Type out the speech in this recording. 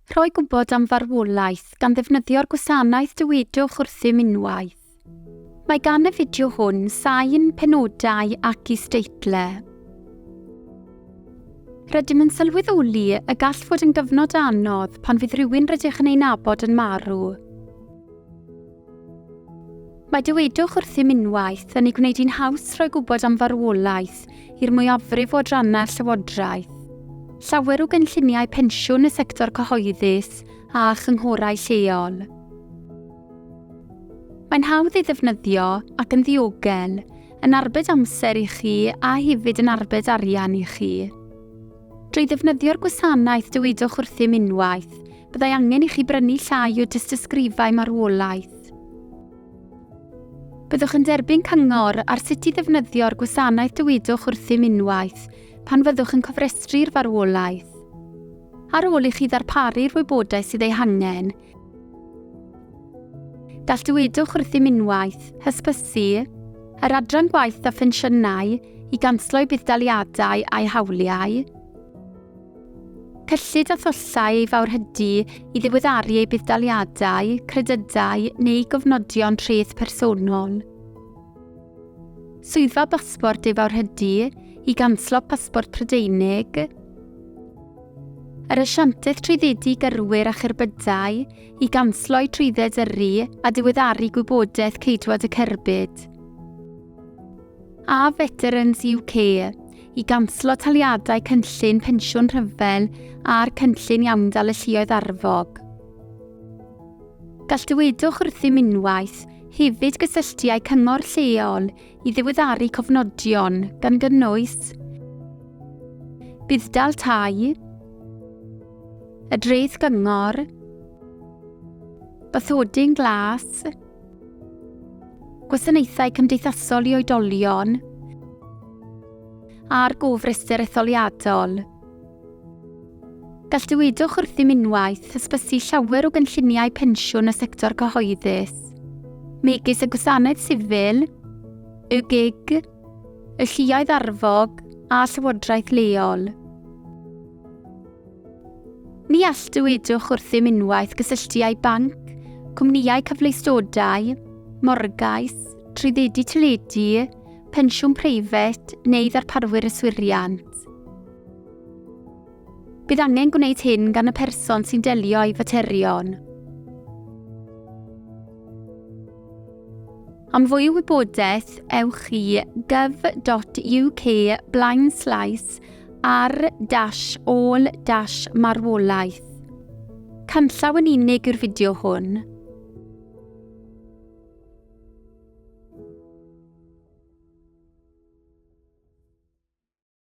Rhoi gwybod am farwolaeth gan ddefnyddio'r gwasanaeth Dywedwch wrthym unwaith. Mae gan y fideo hwn sain, penodau ac isdeitlau. Rydym yn sylweddoli y gall fod yn gyfnod anodd pan fydd rhywun rydych yn ei nabod yn marw. Mae dywedwch wrthym unwaith yn ei gwneud hi'n haws rhoi gwybod am farwolaeth i'r mwyafrif o adrannau'r Llywodraeth. Llawer o gynlluniau pensiwn y sector cyhoeddus a chynghorau lleol. Mae'n hawdd ei ddefnyddio ac yn ddiogel, yn arbed amser i chi a hefyd yn arbed arian i chi. Drwy ddefnyddio'r gwasanaeth dywedwch wrthym unwaith byddai angen i chi brynu llai o dystysgrifau marwolaeth. Byddwch yn derbyn cyngor ar sut i ddefnyddio'r gwasanaeth Dywedwch Wrthym unwaith pan fyddwch yn cofrestru'r farwolaeth. Ar ôl i chi ddarparu'r wybodaeth sydd ei hangen, gall Dywedwch Wrthym unwaith hysbysu yr Adran Gwaith a Phensiynau i ganslo'i budd-daliadau a'i hawliau, Cyllid a thullau ei fawrhydi i ddiweddaru ei budd-daliadau, credydau neu gofnodion treth personol. Swyddfa Basbort ei fawrhydi i ganslo pasbort Prydeinig. Yr asiantaeth trwyddedu gyrwyr a cherbydau i gansloi trwydded yrru a diweddaru gwybodaeth ceidwad y cerbyd. A Veterans UK i ganslo taliadau cynllun pensiwn rhyfel a'r cynllun iawndal y lluoedd arfog. Gall dywedwch wrthym unwaith hefyd gysylltu â'i cyngor lleol i ddiweddaru cofnodion, gan gynnwys budd-dal tai, y dreth gyngor, bathodyn glas, Gwasanaethau Cymdeithasol i Oedolion a'r Gofrestr Etholiadol. Gall dywedwch wrthym unwaith hysbysu llawer o gynlluniau pensiwn y sector cyhoeddus, megis y Gwasanaeth Sifil, y gig, y lluoedd arfog a llywodraeth leol. Ni all dywedwch wrthym unwaith gysylltiau banc, cwmnïau cyfleustodau, morgais, trwyddedu teledu, pensiwn preifat neu ddarparwyr yswiriant. Bydd angen gwneud hyn gan y person sy'n delio â'i faterion. Am fwy o wybodaeth, ewch i gov.uk blaenslaes ar dash ôl dash marwolaeth. Canllaw yn unig yw'r fideo hwn.